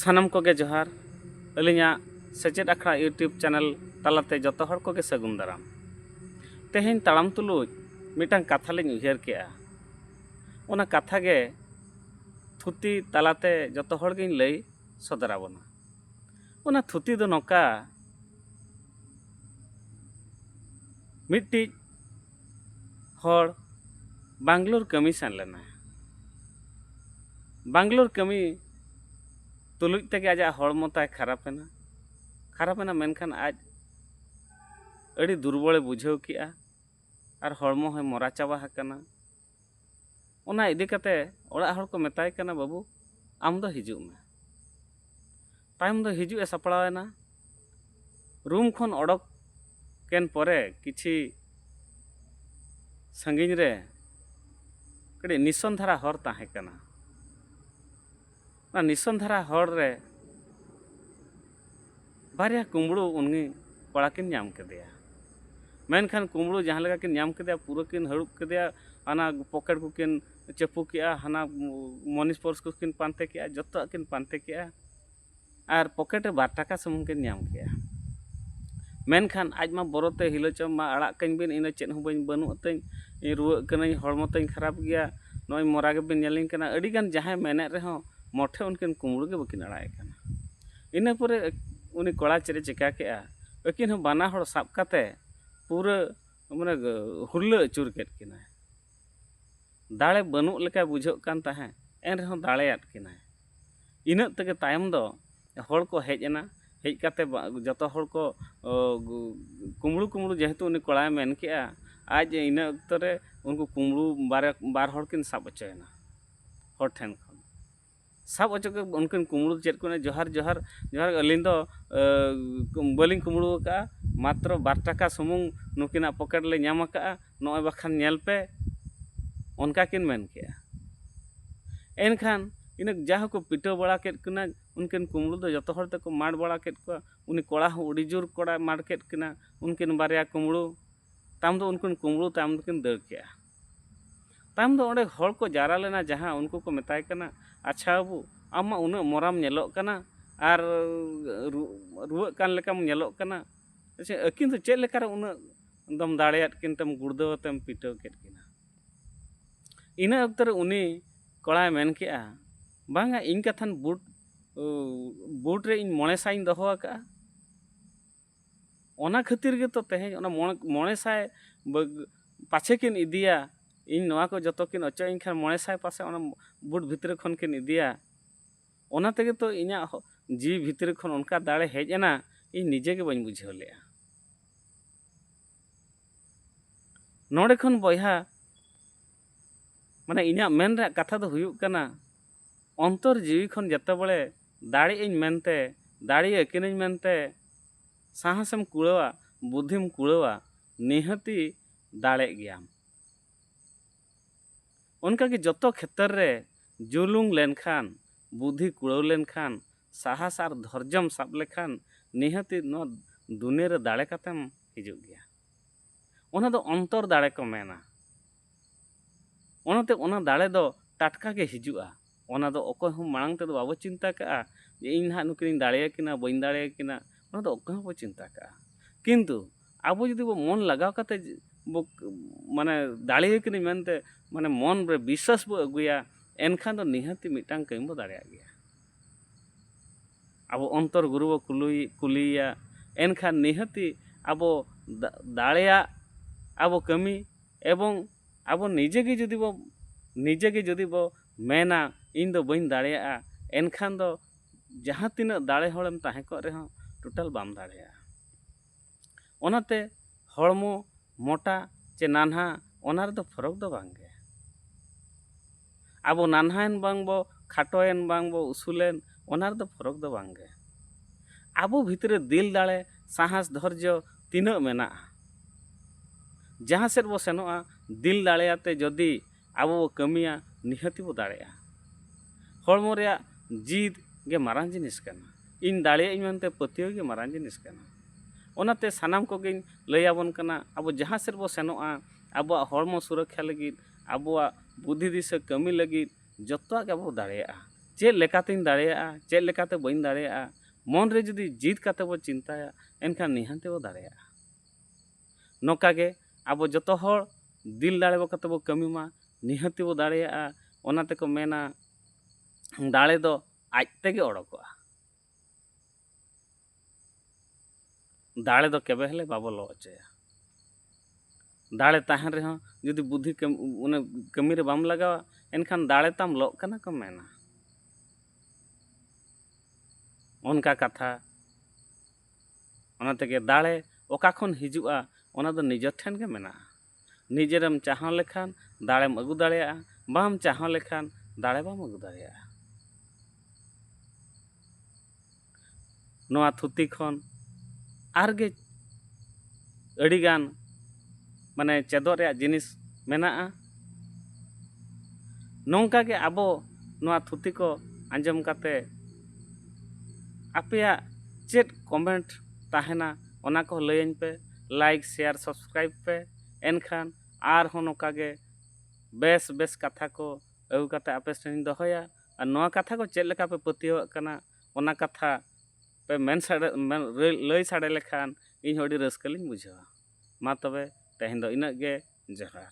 ᱥᱟᱱᱟᱢ ᱠᱚᱜᱮ ᱡᱚᱦᱟᱨ ᱟᱹᱞᱤᱧᱟᱜ ᱥᱮᱪᱮᱫ ᱟᱠᱷᱲᱟ ᱤᱭᱩᱴᱩᱵᱽ ᱪᱮᱱᱮᱞ ᱛᱟᱞᱟᱛᱮ ᱡᱚᱛᱚ ᱦᱚᱲ ᱠᱚᱜᱮ ᱥᱟᱹᱜᱩᱱ ᱫᱟᱨᱟᱢ ᱛᱮᱦᱮᱧ ᱛᱟᱲᱟᱢ ᱛᱩᱞᱩᱡ ᱢᱤᱫᱴᱟᱝ ᱠᱟᱛᱷᱟ ᱞᱤᱧ ᱩᱭᱦᱟᱹᱨ ᱠᱮᱜᱼᱟ ᱚᱱᱟ ᱠᱟᱛᱷᱟ ᱜᱮ ᱛᱷᱩᱛᱤ ᱛᱟᱞᱟᱛᱮ ᱡᱚᱛᱚ ᱦᱚᱲ ᱜᱤᱧ ᱞᱟᱹᱭ ᱥᱚᱫᱚᱨ ᱟᱵᱚᱱᱟ ᱚᱱᱟ ᱛᱷᱩᱛᱤ ᱫᱚ ᱱᱚᱝᱠᱟ ᱢᱤᱫᱴᱤᱡ ᱦᱚᱲ ᱵᱟᱝᱞᱳᱨ ᱠᱟᱹᱢᱤ ᱥᱮᱱ ᱞᱮᱱᱟᱭ ᱵᱟᱝᱞᱳᱨ ᱠᱟᱹᱢᱤ ᱛᱩᱞᱩᱡ ᱛᱮᱜᱮ ᱟᱡᱟᱜ ᱦᱚᱲᱢᱚ ᱛᱟᱭ ᱠᱷᱟᱨᱟᱯ ᱮᱱᱟ ᱠᱷᱟᱨᱟᱯ ᱮᱱᱟ ᱢᱮᱱᱠᱷᱟᱱ ᱟᱡ ᱟᱹᱰᱤ ᱫᱩᱨᱵᱚᱞᱮ ᱵᱩᱡᱷᱟᱹᱣ ᱠᱮᱫᱼᱟ ᱟᱨ ᱦᱚᱲᱢᱚ ᱦᱚᱸᱭ ᱢᱚᱨᱟ ᱪᱟᱵᱟ ᱟᱠᱟᱱᱟ ᱚᱱᱟ ᱤᱫᱤ ᱠᱟᱛᱮ ᱚᱲᱟᱜ ᱦᱚᱲ ᱠᱚ ᱢᱮᱛᱟᱭ ᱠᱟᱱᱟ ᱵᱟᱹᱵᱩ ᱟᱢ ᱫᱚ ᱦᱤᱡᱩᱜ ᱢᱮ ᱛᱟᱭᱚᱢ ᱫᱚ ᱦᱤᱡᱩᱜ ᱮ ᱥᱟᱯᱲᱟᱣ ᱮᱱᱟ ᱨᱩᱢ ᱠᱷᱚᱱ ᱚᱰᱚᱠ ᱠᱮᱱ ᱯᱚᱨᱮ ᱠᱤᱪᱷᱤ ᱥᱟᱺᱜᱤᱧ ᱨᱮ ᱠᱟᱹᱴᱤᱡ ᱱᱤᱥᱚᱱ ᱫᱷᱟᱨᱟ ᱦᱚᱨ ᱛᱟᱦᱮᱸ ᱠᱟᱱᱟ ᱚᱱᱟ ᱱᱤᱥᱚᱱ ᱫᱷᱟᱨᱟ ᱦᱚᱨ ᱨᱮ ᱵᱟᱨᱭᱟ ᱠᱩᱢᱵᱽᱲᱩ ᱩᱱᱤ ᱠᱚᱲᱟ ᱠᱤᱱ ᱧᱟᱢ ᱠᱮᱫᱮᱭᱟ ᱢᱮᱱᱠᱷᱟᱱ ᱠᱩᱢᱵᱽᱲᱩ ᱡᱟᱦᱟᱸ ᱞᱮᱠᱟ ᱠᱤᱱ ᱧᱟᱢ ᱠᱮᱫᱮᱭᱟ ᱯᱩᱨᱟᱹ ᱠᱤᱱ ᱦᱟᱹᱲᱩᱵ ᱠᱮᱫᱮᱭᱟ ᱚᱱᱟ ᱯᱚᱠᱮᱴ ᱠᱚᱠᱤᱱ ᱪᱟᱯᱚ ᱠᱮᱫᱼᱟ ᱦᱟᱱᱟ ᱢᱟᱱᱤ ᱯᱟᱨᱥ ᱠᱚᱠᱤᱱ ᱯᱟᱱᱛᱮ ᱠᱮᱫᱼᱟ ᱡᱚᱛᱚᱣᱟᱜ ᱠᱤᱱ ᱯᱟᱱᱛᱮ ᱠᱮᱫᱼᱟ ᱟᱨ ᱯᱚᱠᱮᱴ ᱨᱮ ᱵᱟᱨ ᱴᱟᱠᱟ ᱥᱩᱢᱩᱝ ᱠᱤᱱ ᱧᱟᱢ ᱠᱮᱜᱼᱟ ᱢᱮᱱᱠᱷᱟᱱ ᱟᱡ ᱢᱟ ᱵᱚᱨᱚ ᱛᱮ ᱦᱤᱞᱟᱹ ᱪᱚᱢ ᱢᱟ ᱟᱲᱟᱜ ᱠᱟᱹᱧ ᱵᱤᱱ ᱤᱧ ᱫᱚ ᱪᱮᱫ ᱦᱚᱸ ᱵᱟᱹᱧ ᱵᱟᱹᱱᱩᱜ ᱛᱤᱧ ᱤᱧ ᱨᱩᱣᱟᱹᱜ ᱠᱟᱹᱱᱟᱹᱧ ᱦᱚᱲᱢᱚ ᱛᱤᱧ ᱠᱷᱟᱨᱟᱯ ᱜᱮᱭᱟ ᱱᱚᱜᱼᱚᱭ ᱢᱚᱨᱟ ᱜᱮᱵᱤᱱ ᱧᱮᱞᱤᱧ ᱠᱟᱱᱟ ᱟᱹᱰᱤ ᱜᱟᱱ ᱡᱟᱦᱟᱸᱭ ᱢᱮᱱᱮᱫ ᱨᱮᱦᱚᱸ ᱢᱚᱴᱷᱮ ᱩᱱᱠᱤᱱ ᱠᱩᱢᱵᱽᱲᱩ ᱜᱮ ᱵᱟᱹᱠᱤᱱ ᱟᱲᱟᱜ ᱮ ᱠᱟᱱᱟ ᱤᱱᱟᱹ ᱯᱚᱨᱮ ᱩᱱᱤ ᱠᱚᱲᱟ ᱪᱮᱫ ᱮ ᱪᱤᱠᱟᱹ ᱠᱮᱜᱼᱟ ᱟᱹᱠᱤᱱ ᱦᱚᱸ ᱵᱟᱱᱟ ᱦᱚᱲ ᱥᱟᱵ ᱠᱟᱛᱮ ᱯᱩᱨᱟᱹ ᱢᱟᱱᱮ ᱦᱩᱨᱞᱟᱹ ᱟᱹᱪᱩᱨ ᱠᱮᱫ ᱠᱤᱱᱟᱭ ᱫᱟᱲᱮ ᱵᱟᱹᱱᱩᱜ ᱞᱮᱠᱟ ᱵᱩᱡᱷᱟᱹᱜ ᱠᱟᱱ ᱛᱟᱦᱮᱸᱫ ᱮᱱ ᱨᱮᱦᱚᱸ ᱫᱟᱲᱮᱭᱟᱫ ᱠᱤᱱᱟᱭ ᱤᱱᱟᱹᱜ ᱛᱮᱜᱮ ᱛᱟᱭᱚᱢ ᱫᱚ ᱦᱚᱲ ᱠᱚ ᱦᱮᱡ ᱮᱱᱟ ᱦᱮᱡ ᱠᱟᱛᱮ ᱡᱚᱛᱚ ᱦᱚᱲ ᱠᱚ ᱠᱩᱢᱲᱩ ᱠᱩᱢᱲᱩ ᱡᱮᱦᱮᱛᱩ ᱩᱱᱤ ᱠᱚᱲᱟᱭ ᱢᱮᱱ ᱠᱮᱜᱼᱟ ᱟᱡ ᱤᱱᱟᱹ ᱚᱠᱛᱚ ᱨᱮ ᱩᱱᱠᱩ ᱠᱩᱢᱲᱩ ᱵᱟᱨᱭᱟ ᱵᱟᱨ ᱦᱚᱲ ᱠᱤᱱ ᱥᱟᱵ ᱦᱚᱪᱚᱭᱮᱱᱟ ᱦᱚᱲ ᱴᱷᱮᱱ ᱠᱷᱚᱱ ᱥᱟᱵ ᱦᱚᱪᱚ ᱠᱮᱫ ᱠᱚᱣᱟ ᱩᱱᱠᱤᱱ ᱠᱩᱢᱲᱩ ᱫᱚ ᱪᱮᱫ ᱠᱚ ᱢᱮᱱᱟ ᱡᱚᱦᱟᱨ ᱡᱚᱦᱟᱨ ᱡᱚᱦᱟᱨ ᱟᱹᱞᱤᱧ ᱫᱚ ᱵᱟᱹᱞᱤᱧ ᱠᱩᱢᱲᱩ ᱟᱠᱟᱫᱼᱟ ᱢᱟᱛᱨᱚ ᱵᱟᱨ ᱴᱟᱠᱟ ᱥᱩᱢᱩᱝ ᱱᱩᱠᱤᱱᱟᱜ ᱯᱚᱠᱮᱴ ᱞᱮ ᱧᱟᱢ ᱟᱠᱟᱫᱼᱟ ᱱᱚᱜᱼᱚᱭ ᱵᱟᱠᱷᱟᱱ ᱧᱮᱞ ᱯᱮ ᱚᱱᱠᱟ ᱠᱤᱱ ᱢᱮᱱ ᱠᱮᱜᱼᱟ ᱮᱱᱠᱷᱟᱱ ᱤᱱᱟᱹ ᱡᱟ ᱦᱚᱸ ᱠᱚ ᱯᱤᱴᱟᱹᱣ ᱵᱟᱲᱟ ᱠᱮᱫ ᱠᱤᱱᱟᱹ ᱩᱱᱠᱤᱱ ᱠᱩᱢᱵᱽᱲᱩ ᱫᱚ ᱡᱚᱛᱚ ᱦᱚᱲ ᱛᱮᱠᱚ ᱢᱟᱰ ᱵᱟᱲᱟ ᱠᱮᱫ ᱠᱚᱣᱟ ᱩᱱᱤ ᱠᱚᱲᱟ ᱦᱚᱸ ᱟᱹᱰᱤ ᱡᱳᱨ ᱠᱚᱲᱟᱭ ᱢᱟᱰ ᱠᱮᱫ ᱠᱤᱱᱟᱹ ᱩᱱᱠᱤᱱ ᱵᱟᱨᱭᱟ ᱠᱩᱢᱵᱽᱲᱩ ᱛᱟᱭᱚᱢ ᱫᱚ ᱩᱱᱠᱤᱱ ᱠᱩᱢᱵᱽᱲᱩ ᱛᱟᱭᱚᱢ ᱫᱚᱠᱤᱱ ᱫᱟᱹᱲ ᱠᱮᱜᱼᱟ ᱛᱟᱭᱚᱢ ᱫᱚ ᱚᱸᱰᱮ ᱦᱚᱲ ᱠᱚ ᱡᱟᱣᱨᱟ ᱞᱮᱱᱟ ᱡᱟᱦᱟᱸ ᱩᱱᱠᱩ ᱠᱚ ᱢᱮᱛᱟᱭ ᱠᱟᱱᱟ ᱟᱪᱪᱷᱟ ᱵᱟᱹᱵᱩ ᱟᱢ ᱢᱟ ᱩᱱᱟᱹᱜ ᱢᱚᱨᱟᱢ ᱧᱮᱞᱚᱜ ᱠᱟᱱᱟ ᱟᱨ ᱨᱩᱣᱟᱹᱜ ᱠᱟᱱ ᱞᱮᱠᱟᱢ ᱧᱮᱞᱚᱜ ᱠᱟᱱᱟ ᱟᱪᱪᱷᱟ ᱟᱹᱠᱤᱱ ᱫᱚ ᱪᱮᱫ ᱞᱮᱠᱟᱨᱮ ᱩᱱᱟᱹᱜ ᱫᱚᱢ ᱫᱟᱲᱮᱭᱟᱫ ᱠᱤᱱ ᱛᱮᱢ ᱜᱩᱲᱫᱟᱹᱣ ᱟᱛᱮᱢ ᱯᱤᱴᱟᱹᱣ ᱠᱮᱫ ᱠᱤᱱᱟ ᱤᱱᱟᱹ ᱚᱠᱛᱚ ᱨᱮ ᱩᱱᱤ ᱠᱚᱲᱟᱭ ᱢᱮᱱ ᱠᱮᱜᱼᱟ ᱵᱟᱝᱟ ᱤᱧ ᱠᱟᱛᱷᱟᱱ ᱵᱩᱴ ᱵᱩᱴ ᱨᱮ ᱤᱧ ᱢᱚᱬᱮ ᱥᱟᱭᱤᱧ ᱫᱚᱦᱚ ᱟᱠᱟᱜᱼᱟ ᱚᱱᱟ ᱠᱷᱟᱹᱛᱤᱨ ᱜᱮᱛᱚ ᱛᱮᱦᱮᱧ ᱚᱱᱟ ᱢᱚᱬᱮ ᱢᱚᱬᱮ ᱥᱟᱭ ᱯᱟᱪᱷᱮ ᱠᱤᱱ ᱤᱫᱤᱭᱟ ᱤᱧ ᱱᱚᱣᱟ ᱠᱚ ᱡᱚᱛᱚ ᱠᱤᱱ ᱚᱪᱚᱜ ᱟᱹᱧ ᱠᱷᱟᱱ ᱢᱚᱬᱮ ᱥᱟᱭ ᱯᱟᱥᱮᱡ ᱚᱱᱟ ᱵᱩᱴ ᱵᱷᱤᱛᱨᱤ ᱠᱷᱚᱱ ᱠᱤᱱ ᱤᱫᱤᱭᱟ ᱚᱱᱟ ᱛᱮᱜᱮ ᱛᱚ ᱤᱧᱟᱹᱜ ᱡᱤᱣᱤ ᱵᱷᱤᱛᱨᱤ ᱠᱷᱚᱱ ᱚᱱᱠᱟ ᱫᱟᱲᱮ ᱦᱮᱡ ᱮᱱᱟ ᱤᱧ ᱱᱤᱡᱮ ᱜᱮ ᱵᱟᱹᱧ ᱵᱩᱡᱷᱟᱹᱣ ᱞᱮᱫᱼᱟ ᱱᱚᱰᱮ ᱠᱷᱚᱱ ᱵᱚᱭᱦᱟ ᱢᱟᱱᱮ ᱤᱧᱟᱹᱜ ᱢᱮᱱ ᱨᱮᱭᱟᱜ ᱠᱟᱛᱷᱟ ᱫᱚ ᱦᱩᱭᱩᱜ ᱠᱟᱱᱟ ᱚᱱᱛᱚᱨ ᱡᱤᱣᱤ ᱠᱷᱚᱱ ᱡᱚᱛᱚ ᱵᱚᱞᱮ ᱫᱟᱲᱮᱜ ᱟᱹᱧ ᱢᱮᱱᱛᱮ ᱫᱟᱲᱮ ᱟᱹᱠᱤᱱᱟᱹᱧ ᱢᱮᱱᱛᱮ ᱥᱟᱦᱟᱥᱮᱢ ᱠᱩᱲᱟᱹᱣᱟ ᱵᱩᱫᱷᱤᱢ ᱠᱩᱲᱟᱹᱣᱟ ᱱᱤᱦᱟᱹᱛᱤ ᱫᱟᱲᱮᱜ ᱜᱮᱭᱟᱢ ᱚᱱᱠᱟ ᱜᱮ ᱡᱚᱛᱚ ᱠᱷᱮᱛᱚᱨ ᱨᱮ ᱡᱩᱞᱩᱝ ᱞᱮᱱ ᱠᱷᱟᱱ, ᱵᱩᱫᱷᱤ ᱠᱩᱲᱟᱹᱣ ᱞᱮᱱ ᱠᱷᱟᱱ, ᱥᱟᱦᱟᱥ ᱟᱨ ᱫᱷᱚᱨᱡᱚᱢ ᱥᱟᱵ ᱞᱮᱠᱷᱟᱱ ᱱᱤᱦᱟᱹᱛᱤ ᱱᱚᱣᱟ ᱫᱩᱱᱤᱭᱟᱹ ᱨᱮ ᱫᱟᱲᱮ ᱠᱟᱛᱮᱢ ᱦᱤᱡᱩᱜ ᱜᱮᱭᱟ᱾ ᱚᱱᱟ ᱫᱚ ᱚᱱᱛᱚᱨ ᱫᱟᱲᱮ ᱠᱚ ᱢᱮᱱᱟ᱾ ᱚᱱᱟᱛᱮ ᱚᱱᱟ ᱫᱟᱲᱮ ᱫᱚ ᱴᱟᱴᱠᱟ ᱜᱮ ᱦᱤᱡᱩᱜᱼᱟ᱾ ᱚᱱᱟ ᱫᱚ ᱚᱠᱚᱭ ᱦᱚᱸ ᱢᱟᱲᱟᱝ ᱛᱮᱫᱚ ᱵᱟᱵᱚ ᱪᱤᱱᱛᱟᱹ ᱠᱟᱜᱼᱟ ᱡᱮ ᱤᱧ ᱱᱟᱦᱟᱜ ᱱᱩᱠᱤᱱᱤᱧ ᱫᱟᱲᱮᱭᱟᱠᱤᱱᱟ ᱵᱟᱹᱧ ᱫᱟᱲᱮᱭᱟᱠᱤᱱᱟ ᱚᱱᱟ ᱫᱚ ᱚᱠᱚᱭ ᱦᱚᱸ ᱵᱟᱠᱚ ᱪᱤᱱᱛᱟᱹ ᱠᱟᱜᱼᱟ ᱠᱤᱱᱛᱩ ᱟᱵᱚ ᱡᱩᱫᱤ ᱵᱚ ᱢᱚᱱ ᱞᱟᱜᱟᱣ ᱠᱟᱛᱮᱫ ᱵᱚ ᱢᱟᱱᱮ ᱫᱟᱲᱮᱭᱟᱠᱤᱱᱟᱹᱧ ᱢᱮᱱᱛᱮ ᱢᱟᱱᱮ ᱢᱚᱱ ᱨᱮ ᱵᱤᱥᱥᱟᱥ ᱵᱚ ᱟᱹᱜᱩᱭᱟ ᱮᱱᱠᱷᱟᱱ ᱫᱚ ᱱᱤᱦᱟᱹᱛᱤ ᱢᱤᱫᱴᱟᱝ ᱠᱟᱹᱢᱤ ᱵᱚ ᱫᱟᱲᱮᱭᱟᱜ ᱜᱮᱭᱟ ᱟᱵᱚ ᱚᱱᱛᱚᱨ ᱜᱩᱨᱩ ᱵᱚ ᱠᱩᱞᱤᱭᱮᱭᱟ ᱮᱱᱠᱷᱟᱱ ᱱᱤᱦᱟᱹᱛᱤ ᱟᱵᱚ ᱫᱟᱲᱮᱭᱟᱜ ᱟᱵᱚ ᱠᱟᱹᱢᱤ ᱮᱵᱚᱝ ᱟᱵᱚ ᱱᱤᱡᱮ ᱜᱮ ᱡᱩᱫᱤ ᱵᱚ ᱱᱤᱡᱮ ᱜᱮ ᱡᱩᱫᱤ ᱵᱚ ᱢᱮᱱᱟ ᱤᱧ ᱫᱚ ᱵᱟᱹᱧ ᱫᱟᱲᱮᱭᱟᱜᱼᱟ ᱮᱱᱠᱷᱟᱱ ᱫᱚ ᱡᱟᱦᱟᱸ ᱛᱤᱱᱟᱹᱜ ᱫᱟᱲᱮ ᱦᱚᱲᱮᱢ ᱛᱟᱦᱮᱸ ᱠᱚᱜ ᱨᱮᱦᱚᱸ ᱴᱳᱴᱟᱞ ᱵᱟᱢ ᱫᱟᱲᱮᱭᱟᱜᱼᱟ ᱚᱱᱟᱛᱮ ᱦᱚᱲᱢᱚ ᱢᱚᱴᱟ ᱪᱮ ᱱᱟᱱᱦᱟ ᱚᱱᱟ ᱨᱮᱫᱚ ᱯᱷᱚᱨᱚᱠ ᱫᱚ ᱵᱟᱝ ᱜᱮ ᱟᱵᱚ ᱱᱟᱱᱦᱟᱭᱮᱱ ᱵᱟᱝ ᱵᱚ ᱠᱷᱟᱴᱚᱭᱮᱱ ᱵᱟᱝ ᱵᱚ ᱩᱥᱩᱞᱮᱱ ᱚᱱᱟ ᱨᱮᱫᱚ ᱯᱷᱚᱨᱚᱠ ᱫᱚ ᱵᱟᱝ ᱜᱮ ᱟᱵᱚ ᱵᱷᱤᱛᱨᱤ ᱨᱮ ᱫᱤᱞ ᱫᱟᱲᱮ ᱥᱟᱦᱟᱥ ᱫᱷᱚᱨᱡᱚ ᱛᱤᱱᱟᱹᱜ ᱢᱮᱱᱟᱜᱼᱟ ᱡᱟᱦᱟᱸ ᱥᱮᱫ ᱵᱚ ᱥᱮᱱᱚᱜᱼᱟ ᱫᱤᱞ ᱫᱟᱲᱮ ᱟᱛᱮ ᱡᱩᱫᱤ ᱟᱵᱚ ᱵᱚ ᱠᱟᱹᱢᱤᱭᱟ ᱱᱤᱦᱟᱹᱛᱤ ᱵᱚ ᱫᱟᱲᱮᱜᱼᱟ ᱦᱚᱲᱢᱚ ᱨᱮᱭᱟᱜ ᱡᱤᱫ ᱜᱮ ᱢᱟᱨᱟᱝ ᱡᱤᱱᱤᱥ ᱠᱟᱱᱟ ᱤᱧ ᱫᱟᱲᱮᱭᱟᱜ ᱟᱹᱧ ᱢᱮᱱᱛᱮ ᱯᱟᱹᱛᱭᱟᱹᱣ ᱜᱮ ᱢᱟᱨᱟᱝ ᱡᱤᱱᱤᱥ ᱠᱟᱱᱟ ᱚᱱᱟᱛᱮ ᱥᱟᱱᱟᱢ ᱠᱚᱜᱮᱧ ᱞᱟᱹᱭ ᱟᱵᱚᱱ ᱠᱟᱱᱟ ᱟᱵᱚ ᱡᱟᱦᱟᱸ ᱥᱮᱫ ᱵᱚ ᱥᱮᱱᱚᱜᱼᱟ ᱟᱵᱚᱣᱟᱜ ᱦᱚᱲᱢᱚ ᱥᱩᱨᱚᱠᱠᱷᱟ ᱞᱟᱹᱜᱤᱫ ᱟᱵᱚᱣᱟᱜ ᱵᱩᱫᱷᱤ ᱫᱤᱥᱟᱹ ᱠᱟᱹᱢᱤ ᱞᱟᱹᱜᱤᱫ ᱡᱚᱛᱚᱣᱟᱜ ᱜᱮ ᱟᱵᱚ ᱵᱚᱱ ᱫᱟᱲᱮᱭᱟᱜᱼᱟ ᱪᱮᱫ ᱞᱮᱠᱟᱛᱤᱧ ᱫᱟᱲᱮᱭᱟᱜᱼᱟ ᱪᱮᱫ ᱞᱮᱠᱟᱛᱮ ᱵᱟᱹᱧ ᱫᱟᱲᱮᱭᱟᱜᱼᱟ ᱢᱚᱱ ᱨᱮ ᱡᱩᱫᱤ ᱡᱤᱛ ᱠᱟᱛᱮᱫ ᱵᱚᱱ ᱪᱤᱱᱛᱟᱹᱭᱟ ᱮᱱᱠᱷᱟᱱ ᱱᱤᱦᱟᱹᱛ ᱵᱚᱱ ᱫᱟᱲᱮᱭᱟᱜᱼᱟ ᱱᱚᱝᱠᱟ ᱜᱮ ᱟᱵᱚ ᱡᱚᱛᱚ ᱦᱚᱲ ᱫᱤᱞ ᱫᱟᱲᱮ ᱠᱟᱛᱮᱫ ᱵᱚᱱ ᱠᱟᱹᱢᱤ ᱢᱟ ᱱᱤᱦᱟᱹᱛ ᱵᱚᱱ ᱫᱟᱲᱮᱭᱟᱜᱼᱟ ᱚᱱᱟ ᱛᱮᱠᱚ ᱢᱮᱱᱟ ᱫᱟᱲᱮ ᱫᱚ ᱟᱡ ᱛᱮᱜᱮ ᱚᱰᱚᱠᱚᱜᱼᱟ ᱫᱟᱲᱮ ᱫᱚ ᱠᱮᱵᱮ ᱦᱚᱞᱮ ᱵᱟᱵᱚ ᱞᱚ ᱚᱪᱚᱭᱟ ᱫᱟᱲᱮ ᱛᱟᱦᱮᱱ ᱨᱮᱦᱚᱸ ᱡᱩᱫᱤ ᱵᱩᱫᱷᱤ ᱚᱱᱮ ᱠᱟᱹᱢᱤ ᱨᱮ ᱵᱟᱢ ᱞᱟᱜᱟᱣᱟ ᱮᱱᱠᱷᱟᱱ ᱫᱟᱲᱮ ᱛᱟᱢ ᱞᱚᱜ ᱠᱟᱱᱟ ᱠᱚ ᱢᱮᱱᱟ ᱚᱱᱠᱟ ᱠᱟᱛᱷᱟ ᱚᱱᱟ ᱛᱮᱜᱮ ᱫᱟᱲᱮ ᱚᱠᱟ ᱠᱷᱚᱱ ᱦᱤᱡᱩᱜᱼᱟ ᱚᱱᱟ ᱫᱚ ᱱᱤᱡᱮᱨ ᱴᱷᱮᱱ ᱜᱮ ᱢᱮᱱᱟᱜᱼᱟ ᱱᱤᱡᱮᱨᱮᱢ ᱪᱟᱦᱚᱸ ᱞᱮᱠᱷᱟᱱ ᱫᱟᱲᱮᱢ ᱟᱹᱜᱩ ᱫᱟᱲᱮᱭᱟᱜᱼᱟ ᱵᱟᱢ ᱪᱟᱦᱚᱸ ᱞᱮᱠᱷᱟᱱ ᱫᱟᱲᱮ ᱵᱟᱢ ᱟᱹᱜᱩ ᱫᱟᱲᱮᱭᱟᱜᱼᱟ ᱱᱚᱣᱟ ᱛᱷᱩᱛᱤ ᱠᱷᱚᱱ ᱟᱨᱜᱮ ᱟᱹᱰᱤᱜᱟᱱ ᱢᱟᱱᱮ ᱪᱮᱫᱚᱜ ᱨᱮᱭᱟᱜ ᱡᱤᱱᱤᱥ ᱢᱮᱱᱟᱜᱼᱟ ᱱᱚᱝᱠᱟ ᱜᱮ ᱟᱵᱚ ᱱᱚᱣᱟ ᱛᱷᱩᱛᱤ ᱠᱚ ᱟᱸᱡᱚᱢ ᱠᱟᱛᱮ ᱟᱯᱮᱭᱟᱜ ᱪᱮᱫ ᱠᱚᱢᱮᱱᱴ ᱛᱟᱦᱮᱱᱟ ᱚᱱᱟ ᱠᱚᱦᱚᱸ ᱞᱟᱹᱭᱟᱹᱧ ᱯᱮ ᱞᱟᱭᱤᱠ ᱥᱮᱭᱟᱨ ᱥᱟᱵᱥᱠᱨᱟᱭᱤᱵᱽ ᱯᱮ ᱮᱱᱠᱷᱟᱱ ᱟᱨᱦᱚᱸ ᱱᱚᱝᱠᱟ ᱜᱮ ᱵᱮᱥ ᱵᱮᱥ ᱠᱟᱛᱷᱟ ᱠᱚ ᱟᱹᱜᱩ ᱠᱟᱛᱮᱫ ᱟᱯᱮ ᱥᱟᱢᱟᱝ ᱨᱮᱧ ᱫᱚᱦᱚᱭᱟ ᱟᱨ ᱱᱚᱣᱟ ᱠᱟᱛᱷᱟ ᱠᱚ ᱪᱮᱫ ᱞᱮᱠᱟ ᱯᱮ ᱯᱟᱹᱛᱭᱟᱹᱣᱟᱜ ᱠᱟᱱᱟ ᱚᱱᱟ ᱠᱟᱛᱷᱟ ᱯᱮ ᱢᱮᱱ ᱥᱟᱰᱮ ᱞᱟᱹᱭ ᱥᱟᱰᱮ ᱞᱮᱠᱷᱟᱱ ᱤᱧ ᱦᱚᱸ ᱟᱹᱰᱤ ᱨᱟᱹᱥᱠᱟᱹ ᱞᱤᱧ ᱵᱩᱡᱷᱟᱹᱣᱟ ᱢᱟ ᱛᱚᱵᱮ ᱛᱮᱦᱮᱧ ᱫᱚ ᱤᱱᱟᱹᱜ ᱜᱮ ᱡᱚᱦᱟᱨ